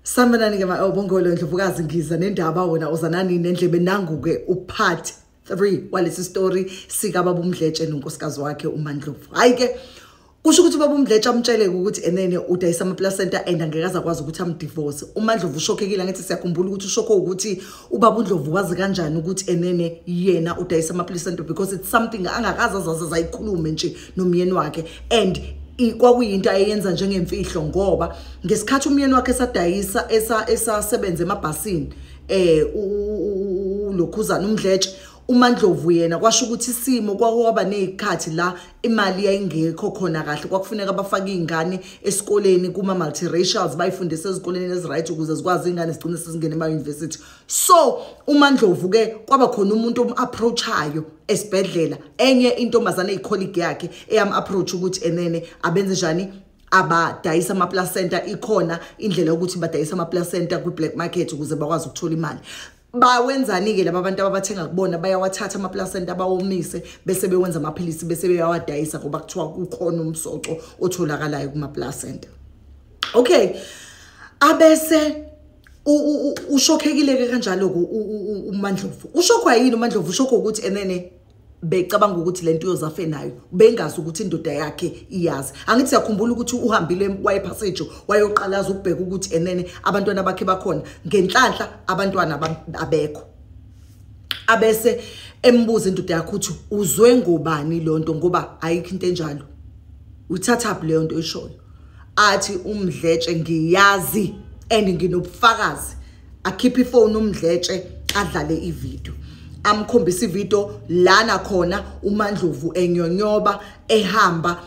sanibonani-ke bongolo ndlovukazi ngiza nendaba wona uzanani nendlebe nangu-ke upart three walesi story sikababa umdletshe nonkosikazi wakhe umandlovu hhayi-ke kusho ukuthi ubaba umdletshe amtsheleke ukuthi enene udayisa amaplacenta and angeke aze akwazi ukuthi amdivorce umandlovu ushokhekile angithi siyakhumbula ukuthi ushokho ukuthi ubaba undlovu wazi kanjani ukuthi enene yena udayisa amaplacenta because it's something angakaze azaze zayikhulume nje nomyeni wakhe and kwakuyinto ayeyenza njengemfihlo ngoba ngesikhathi umyeni wakhe esadayisa esasebenza emabhasini eh ulokhuzana umdletshe uMandlovu yena kwasho ukuthi isimo kwakwaba nezikhathi la imali yayingekho khona kahle kwakufuneka bafake izingane esikoleni kuma multiracials bayifundise ezikoleni eziright ukuze zikwazi izingane zigcine sezingena ema university so umandlovu ke kwaba khona umuntu omu-approachayo esibhedlela enye intombazane eyicolleague yakhe eyamu-approach ukuthi enene abenze njani abadayisa amaplacenta ikhona indlela yokuthi badayisa amaplacenta kwi-black market ukuze bakwazi ukuthola imali bawenzani-ke laba bantu ababathenga kubona bayawathatha amaplacenta bawomise bese bewenza amaphilisi bese beyawadayisa ngoba kuthiwa kukhona umsoco otholakalayo kumaplacenta okay abese ushokhekileke kanjalo umandlovu ushokhwa yini umandlovu ushokho ukuthi enene becabanga ukuthi lento uyozafe nayo bengazi ukuthi indoda yakhe iyazi angithi siyakhumbula ukuthi uhambile waye passage wayoqalaza ukubheka ukuthi enene abantwana bakhe bakhona ngenhlanhla abantwana abekho abese embuza indoda yakhe ukuthi uzwe ngobani lonto ngoba ayikho into enjalo uthatha phi leyo nto oyishoyo athi umdletshe ngiyazi and nginobufakazi akhiphe ifoni umdletshe adlale ivideo amkhombisa ivideo lana khona umandlovu enyonyoba ehamba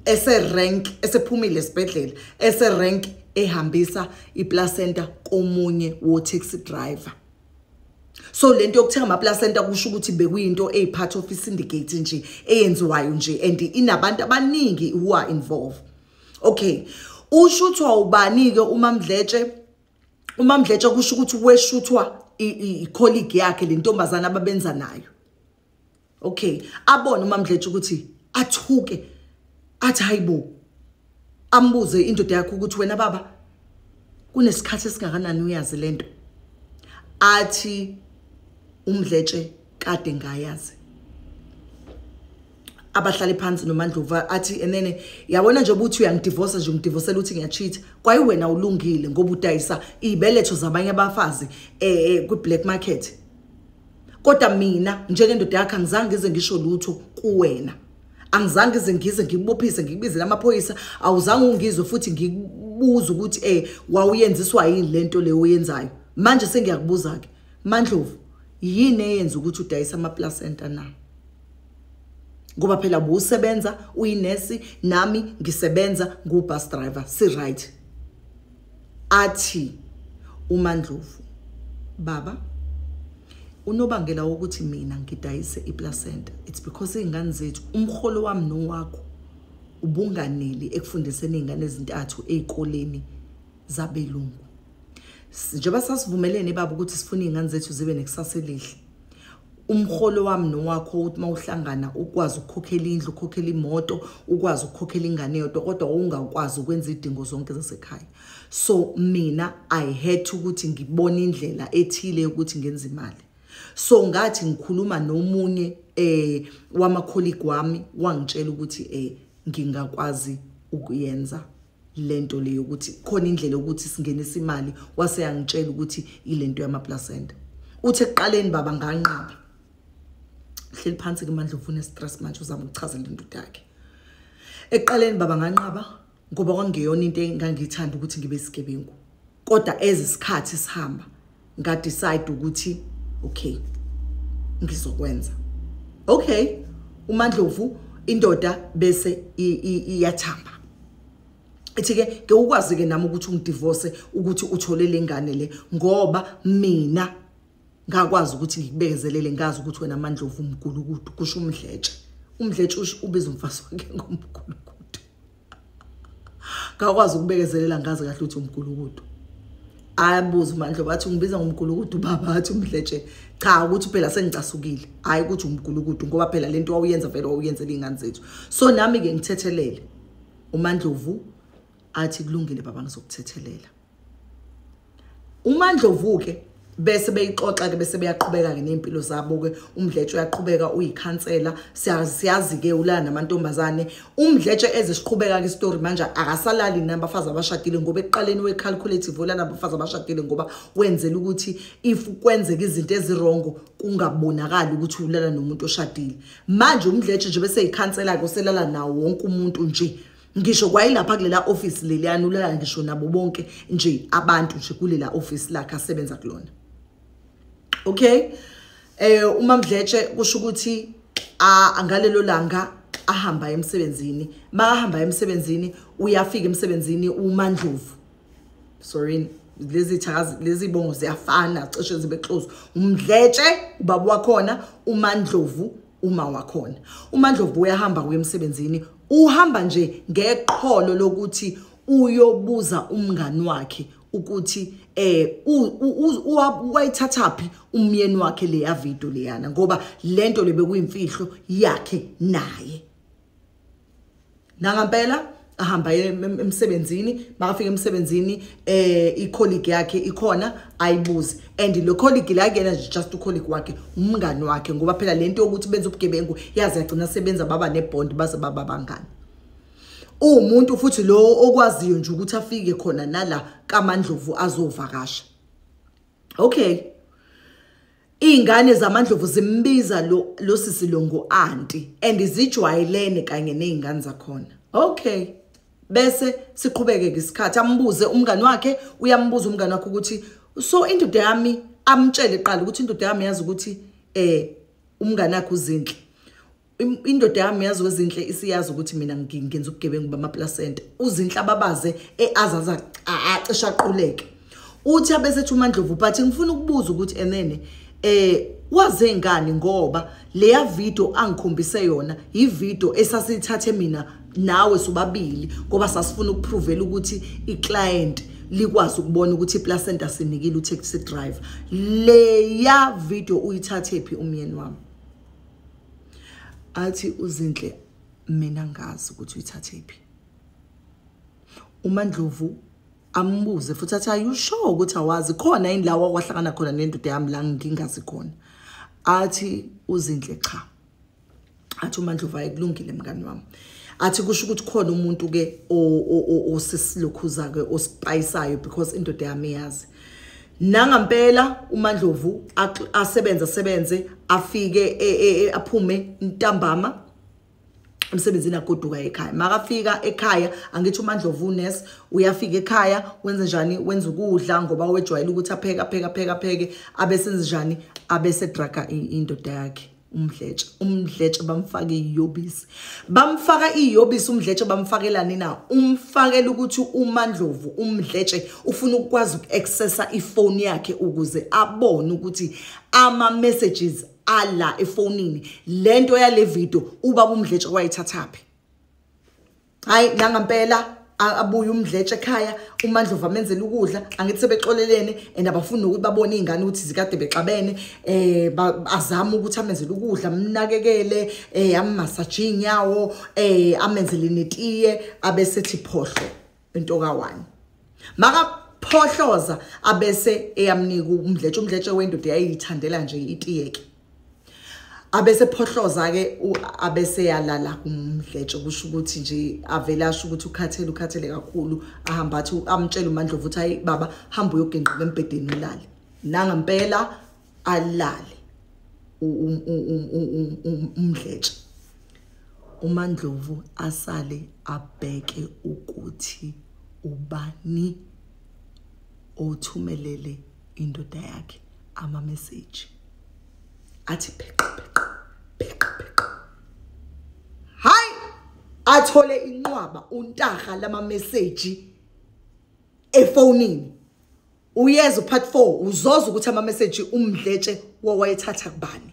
ese-rank esephumile esibhedlela ese-rank ehambisa iplacenta komunye wo-taxi driver so lento yokuthenga ama placenta kusho ukuthi bekuyinto ey part of syndicate nje eyenziwayo nje and inabantu abaningi who are involved okay ushuthwa ubani ke umamdletshe umamdletshe kusho ukuthi weshuthwa i colleague yakhe lentombazana ababenza nayo okay abone umamdletshe ukuthi athuke athi hayibo ambuze indoda yakho ukuthi wena baba kunesikhathi esingakanani uyazi lento athi umdletshe kade ngayazi abahlale phansi nomandluva athi enene yabona nje ukuthi uyangidivorce nje ungidivosela ukuthi ngiyacheat kwayi wena ulungile ngoba udayisa ibeletho zabanye abafazi eh, eh kwi black market kodwa mina njengendoda yakhe angizange ngize ngisho lutho kuwena angizange ngize ngize ngikubophise ngikubizele amaphoyisa awuzange ungizwe futhi ngikubuza ukuthi eh wawuyenziswa yini lento leyo oyenzayo manje sengiyakubuza ke mandlovu yini eyenza ukuthi udayisa ama placenta na ngoba phela busebenza uyinesi nami ngisebenza ngu bus driver si right athi uMandlovu baba unobangela wokuthi mina ngidayise iplacenta it's because izingane zethu umholo wami nowakho ubunganeli ekufundiseni izingane ezintathu ezikoleni zabelungu njengoba sasivumelene baba ukuthi sifuna izingane zethu zibe nekusasa elihle umholo wami nowakho ukuthi uma uhlangana ukwazi ukukhokhela indlu ukhokhela imoto ukwazi ukukhokhela ingane yodwa kodwa ungakwazi ukwenza idingo zonke zasekhaya so mina i had ukuthi ngibone indlela ethile yokuthi ngenze imali so ngathi ngikhuluma nomunye eh wama colleague wami wangitshela ukuthi eh ngingakwazi ukuyenza lento le yokuthi khona indlela yokuthi singenisa imali wase yangitshela ukuthi ilento yama placenta uthe kuqaleni baba nganqaba hleli phansi ke mandla ufuna stress manje uzama ukuchaza lento yakhe eqaleni baba nganqaba ngoba kwangeyona into engangithanda ukuthi ngibe sigebengu kodwa as isikhathi sihamba nga decide ukuthi okay ngizokwenza okay umandlovu indoda bese iyathamba ethi ke ke ukwazi ke nami ukuthi ungidivorce ukuthi uthole lengane le ngoba mina ngakwazi ukuthi ngikubekezelele ngazi ukuthi wena amandlovu umgulukudu kusho umdletshe umdletshe ubiza umfazi wakhe ngomgulukudu ngakwazi ukubekezelela ngazi kahle ukuthi umgulukudu ayabuza umandlo bathi ungibiza ngomgulukudu baba athi umdletshe cha ukuthi phela sengicasukile hayi ukuthi umgulukudu ngoba phela lento wawuyenza vele wawuyenzela ingane zethu so nami ke ngithethelele umandlovu athi kulungile baba ngizokuthethelela umandlovu-ke bese beyixoxa-ke bese beyaqhubeka-ke ney'mpilo zabo-ke umdletshe uyaqhubeka uyikhansela siyazi-ke ulala namantombazane umdletshe ezisiqhubeka-ke isitori manje akasalali nabafazi abashadile ngoba ekuqaleni we-calculative ulala nabafazi abashadile ngoba wenzela ukuthi if kwenzeka izinto ezirongo kungabonakali ukuthi ulala nomuntu oshadile manje umdletshe nje bese yikhansela-ke uselala nawo wonke umuntu nje ngisho kwayilapha kulela office leliyana ulala ngisho nabo bonke nje abantu nje kulela office lakhe asebenza kulona okay eh uma mdletshe kusho ukuthi angalelo langa ahamba emsebenzini makahamba emsebenzini uyafika emsebenzini umandlovu sorry lezi thakazi lezi bongo ziyafana cishe zibe close umdletshe ubaba wakhona umandlovu uma wakhona umandlovu uyahamba kuye emsebenzini uhamba nje ngeqholo lokuthi uyobuza umngani wakhe ukuthi eh wayithathaphi umyeni wakhe leya video leyana ngoba lento lebekuyimfihlo yakhe naye nangampela ahamba emsebenzini makafika emsebenzini eh icolleague yakhe ikhona ayibuze and lo colleague la kuyena nje just u colleague wakhe umngani wakhe ngoba phela lento yokuthi benza ubugebengu yazi yagcina sebenza baba ne bond baze baba bangani umuntu futhi lo okwaziyo nje ukuthi afike khona nala kaMandlovu azovakasha okay Iy'ngane zamandlovu zimbiza lo, lo sisi lo ngu-anti and zijwayelene kanye ney'ngane zakhona okay bese siqhubeke-ke isikhathi ambuze umngane wakhe uyambuza umngane wakhe ukuthi so indoda yami amtshele qala ukuthi indoda yami yazi ukuthi um eh, umngane wakhe uzinhle indoda yami yazi wezinhle isiyazi ukuthi mina ngenza ubugebengu bamaplacenta uzinhle ababaze eazaza acisha aquleke uthi abesethi umandlovu but ngifuna ukubuza ukuthi enene eh waze ngani ngoba leya video angikhombise yona yi video esasithathe mina nawe sobabili ngoba sasifuna ukupruvela ukuthi iclient likwazi ukubona ukuthi iplacenta sinikile utaxi driver leya video uyithathe phi umyeni wami athi uzinhle mina ngazi ukuthi uyithathe phi umandlovu ambuze futhi athi are you sure ukuthi awazi khona yini lawa kwahlangana khona nendoda yami la ngingazi khona athi uzinhle cha athi umandlovu ayikulungile mngani wami athi kusho ukuthi khona umuntu ke osisilokhuza ke osipayisayo because indoda yami yazi nangampela umandlovu asebenze asebenze afike e, e, e, aphume ntambama emsebenzini agoduka ekhaya makafika ekhaya angithi umandlovu unes uyafika ekhaya wenze njani wenza ukudla ngoba wejwayele ukuthi apheke apheke apheke apheke abesenze njani abesedraga indoda yakhe umdletshe umdletshe bamfake iyobisi bamfaka iyobisi umdletshe bamfakelani na umfakela ukuthi umandlovu umdletshe ufuna ukukwazi uku-accessa ifoni yakhe ukuze abone ukuthi ama-messages ala efonini le nto yale video ubaba umdletshe wayithathaphi hayi nangampela abuye umdletshe ekhaya umandlovu amenzela ukudla angithi sebexolelene and abafuni nokuthi babone iy'ngane ukuthi zikade bexabene um azame ukuthi amenzele ukudla amnakekele um eh, ammasaje iy'nyawo um eh, amenzele netiye abesethi phohlo into kawani makaphohloza abese eyamnika umdletshe umdletshe wendoda yayiyithandela nje itiyeke abese phohloza ke abese yalala kumdletshe kusho ukuthi nje avela asho ukuthi ukhathele ukhathele kakhulu ahamba athi amtshela uMandlovu ukuthi hayi baba hamba uyoginqa embedeni ulale nanga impela alale umdletshe uMandlovu asale abheke ukuthi ubani othumelele indoda yakhe ama message athi pheqa pheqa pheqa pheqa hayi athole inqwaba untaha lama message efonini uyeza part 4 uzoza ukuthi ama message umdletshe wawayethatha kubani